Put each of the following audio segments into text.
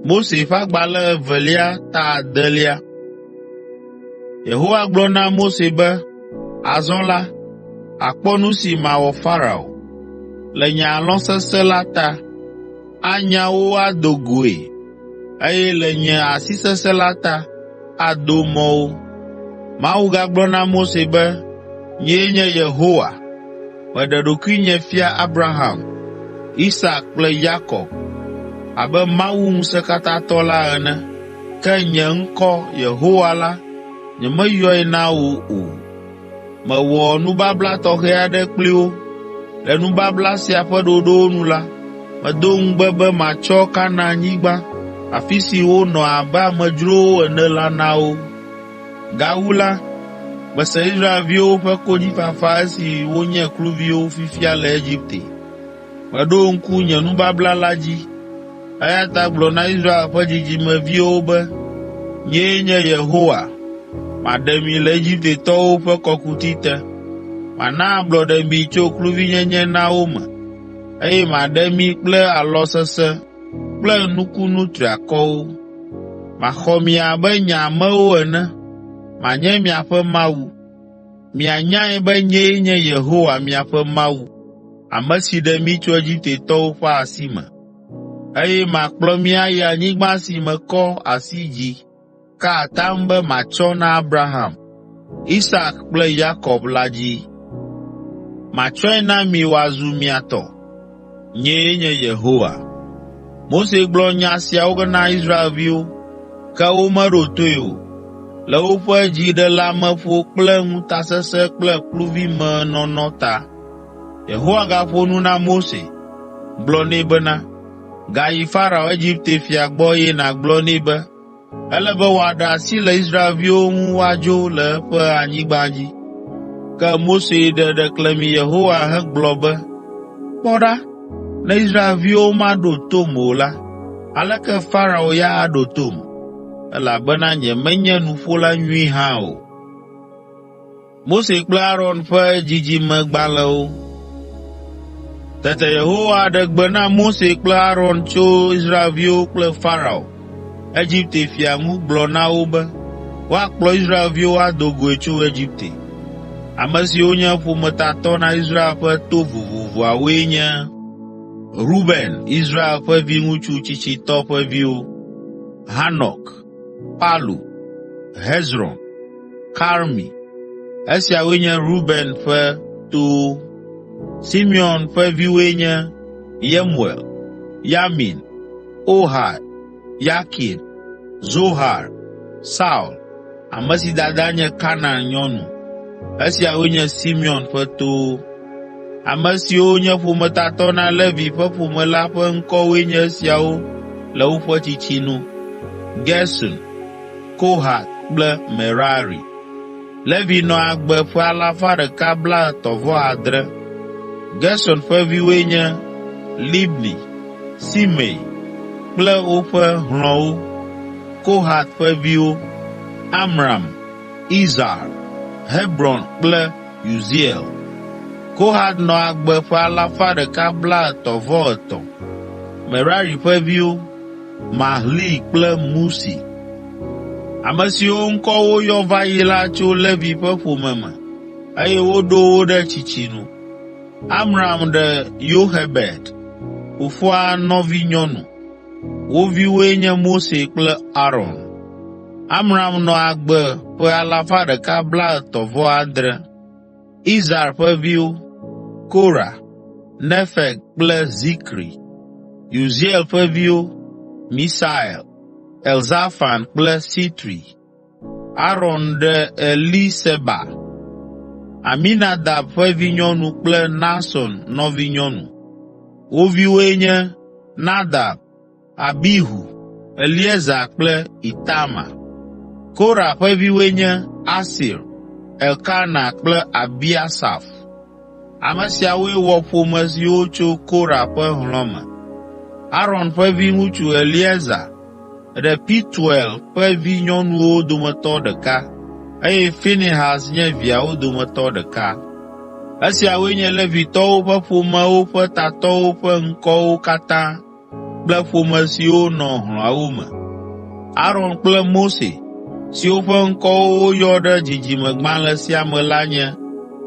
Mose ƒe agbalẽ evelia ta adelia. Yehowa gblɔ na Mose be, “Azɔ la, àkpɔ nu si mawɔ Farao. Le nye alɔ sesẽ la ta, anya wo ado goe, Eye le nye asi sesẽ la ta, ado mɔ wo. Mawu gagblɔ na Mose be, “Nyee nye Yehowa. Meɖe ɖokuinye fia Abraham, Isak kple Yakob abe Mawu ŋusẽkatãtɔ la ene, ke nye ŋkɔ, Yehowa la, nyemeyɔe na wò o. Mewɔ nubabla tɔxɛ aɖe kpli wo. Le nubabla sia ƒe ɖoɖowo nu la, medo ŋugbe be matsɔ Kanaanyigba, afi si wonɔ abe amedzrowo ene la na wo. Gawu la, mese Israelviwo ƒe konyifafa esi wonye kluviwo fifia le Egipte. Meɖo ŋku nye nubabla la dzi, eya ta gblɔ na Israel ƒe dzidzimeviwo be, ‘Nyee nye Yehowa. Maɖe mi le Egiptetɔwo ƒe kɔkuti te. Mana ablɔɖe mi tso kluvinyenye na wo me, eye maɖe mi kple alɔ sesẽ kple nukunu triakɔwo. Maxɔ mi abe nye amewo ene, manye miaƒe Mawu. Mianyae be nyee nye Yehowa, miaƒe Mawu, ame si ɖe mi tso Egiptetɔwo ƒe asi me, eye makplɔ mi ayi anyigba si mekɔ asi dzi ka atam be matsɔ na Abraham, Isak kple Yakob la dzi. Matsɔe na mi wòazu mia tɔ. Nyee nye Yehowa. Mose gblɔ nya siawo na Israelviwo, ke womeɖo toe o. Le woƒe dziɖeleameƒo kple ŋutasesẽ kple kluvimenɔnɔ ta, Yehowa gaƒo nu na Mose, gblɔ nɛ bena, “Gayi Farao, Egipte fia gbɔ eye nàgblɔ nɛ be, Ele be wòaɖe asi le Israelviwo ŋu woadzo le eƒe anyigba dzi. Ke Mose ɖe ɖeklemi Yehowa hegblɔ be, “Kpɔ ɖa, ne Israelviwo maɖo tom o la, aleke Farao ya aɖo tom? Elabena nyemenye nuƒola nyui hã o.” Mose kple Aron ƒe dzidzimegbalẽwo. Tete Yehowa ɖe gbe na Mose kple Aron tso Israelviwo kple Farao, Egipte fia ŋu gblɔ na wo be woakplɔ Israelviwo ado goe tso Egipte. Ame siwo nye ƒometatɔ na Israel ƒe to vovovoawoe nye Ruben, Israel ƒe viŋutsu tsitsitɔ ƒe viwo, Hanok, Palu, Hezron, Karmi. Esiawoe nye Ruben ƒe towo. Simeon ƒe viwoe nye Yemuel, Yamin, Ohad, Yakin, Zohar, Saul, ame si dada nye Kanaan nyɔnu. Esiawoe nye Simeon ƒe towo. Ame siwo nye ƒometatɔ na Levi ƒe ƒome la ƒe ŋkɔwoe nye esiawo le woƒe tsitsi nu: Gerson, Kohat kple Merari. Levi nɔ agbe ƒe alafa ɖeka blaetɔ̃ vɔ adre (137). Gerson ƒe viwoe nye, Libni, Simei kple woƒe hlɔ̃wo. Kohat ƒe viwo, Amram, Izhar, Hebron kple Uziel. Kohat nɔ agbe ƒe alafa ɖeka blaetɔ̃-vɔ-etɔ̃ (153). Merari ƒe viwo: Mahli kple Musi. Ame siwo ŋkɔ woyɔ va yi la tso Levi ƒe ƒome me eye woɖo wo ɖe tsitsi nu. Amram ɖe Yoxebed, fofoa nɔvinyɔnu. Wo viwoe nye Mose kple Aron. Amram nɔ agbe ƒe alafa ɖeka blaetɔ̃ vɔ adre (137). Izhar ƒe viwo, Korah, Nefeg kple Zikri. Uziel ƒe viwo, Misael, Elzafan kple Sitri. Aron ɖe Eliseba, Aminadab ƒe vinyɔnu kple Nahson nɔvinyɔnu. Wo viwoe nye, Nadab, Abihu, Eleaza kple Itamar. Korah ƒe viwoe nye, Asir, Elkana kple Abiasaf. Ame siawoe wɔ ƒome siwo tso Kora ƒe hlɔ̃ me. Aron ƒe viŋutsu Eleazar ɖe Pituel ƒe vinyɔnuwo dometɔ ɖeka, eye Finehas nye viawo dometɔ ɖeka. Esiawoe nye Levitɔwo ƒe ƒomewo ƒe tatɔwo ƒe ŋkɔwo katã kple ƒome siwo nɔ hlɔ̃awo me. Aron kple Mose, siwo ƒe ŋkɔwo woyɔ ɖe dzidzimegbalẽ sia me la nye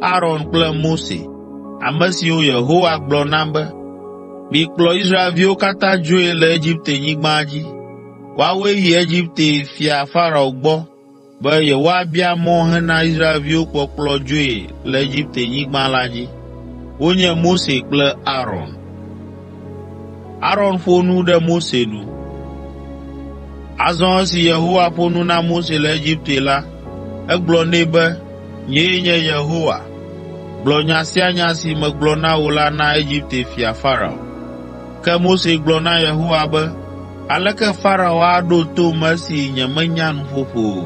Aron kple Mose, ame siwo Yehowa gblɔ na be, “Mikplɔ Israelviwo katã dzoe le Egiptenyigba dzi. Woawoe yi Egipte fia Farao gbɔ be yewoabia mɔ hena Israelviwo kpɔkplɔ dzoe le Egiptenyigba la dzi. Wonye Mose kple Aron. Aron ƒo nu ɖe Mose nu. Azɔ esi Yehowa ƒo nu na Mose le Egipte la, egblɔ nɛ be, “Nyee nye Yehowa. Gblɔ nya sia nya si megblɔ na wò la na Egipte fia Farao.” Ke Mose gblɔ na Yehowa be, “Aleke Farao aɖo tom esi nyemenya nuƒoƒo o?”